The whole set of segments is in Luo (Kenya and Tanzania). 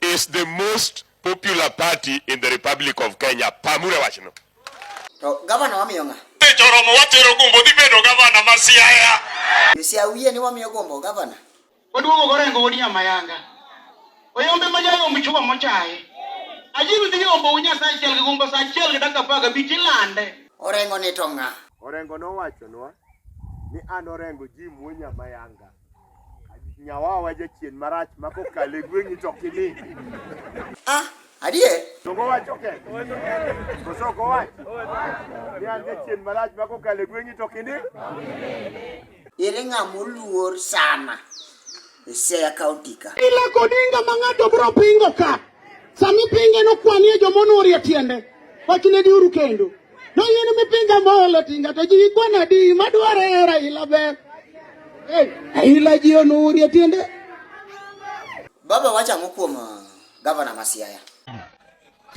is the most popular party in the Republic of Kenya. Pamure wachno. To gavana wamiyo ng'a? Te joromo watero gombo dhi bedo gavana ma Siaya. Siaya wiye ni wamiyo gombo gavana. Oduogo gorengo wodi amayanga. Oyombe ma jayo mchuwa mochaye. Ajiru dhi ombo unya sa achiel gi gombo sa achiel gi dakika apar gabich ilande. Orengo ni to ng'a? Orengo nowachonwa ni an Orengo ji muonya mayanga. Nyawawa jachien marach ma kokalo e gweng'i to ok ini. Ah, adier? To gowacho ke. Koso ok owacho. Ni an jachien marach ma kokalo e gweng'i to ok ini. Ere ng'ama oluor sana e Siaya County ka? Ile kodinga ma ng'ato bro pingo ka. Sami pinge no kwanie jomono orie tiende. Wachne diuru kendo. To yien mipinga molo tinga to ji kwana di madware Raila ber. Raila ji onurie tiende. Baba wacha ang'o kuom uh, gavana ma Siaya?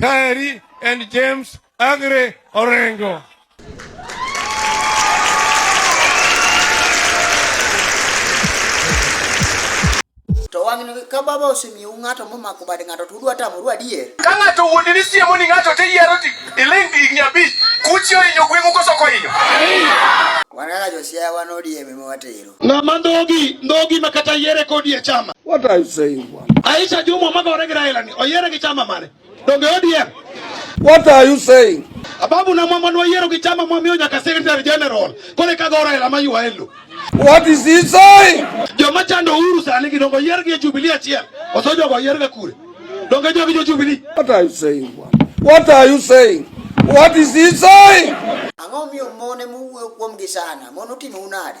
Kaeri and James Agre Orengo. To wang'ni ka baba osemiyou ng'ato momako bad ng'ato to udwa tamoru adier? Ka ng'ato wuondi ni siemo ni ng'ato to iyiero ti iling gi higni abich, kuchi ohinyo gweng'u koso ok ohinyo? Wan kaka josiaya wan ODM ema watero. Ng'ama ndhogi ndhogi ma kata yiere kodi e chama. What are you saying bwana? Aisha Jumwa magore gi Raila ni oyiere gi chama mane? Donge ODM. What are you saying? Ababu na mama no yero kichama mwa mionya ka secretary general. Kole ka gora ila mayu waelu. What is he saying? Joma chando uru sa niki dongo yero ki jubilee achia. Osojo kwa yero kure. Donge jogi jo jubilee. What are you saying? What are you saying? What is he saying? Ang'o miyo mon ema uwuoyo kuomgi sana? Mon otimo unade?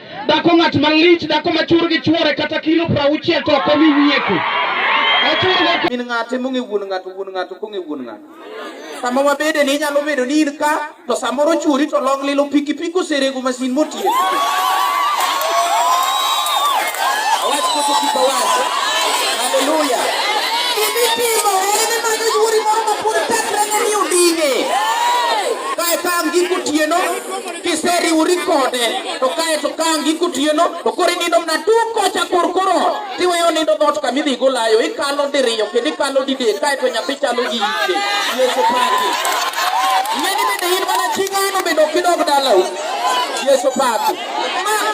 Dhako ng'at malich, dhako ma chur gi chwore kata kilo piero auchiel to ok omi wiye ku. Ochurgo Min ng'ate mong'e wuon ng'ato, wuon ng'ato kong'e wuon ng'ato. Sama wabede ni inyalo bedo ni in ka, to samoro churi to long lilo pikipiki oserego masin motiyo. Awach koso kik awach. Haleluya. Gimitimo en ni manyo yuori moro ma pod tekrene ni odine. Kae ka ang' giko otieno, kiseriwori kode to kae to ka ang' iko tieno to koro inindo mna tung' kocha kor kor ot tiweyo nindo dhoot kama idhi golayo ikalo diriyo kendo ikalo didek kae to nyathi chalo gi ite yesu paki ing'eni bende in mana chi ng'ano bende ok idog dalau yesu paki Ma-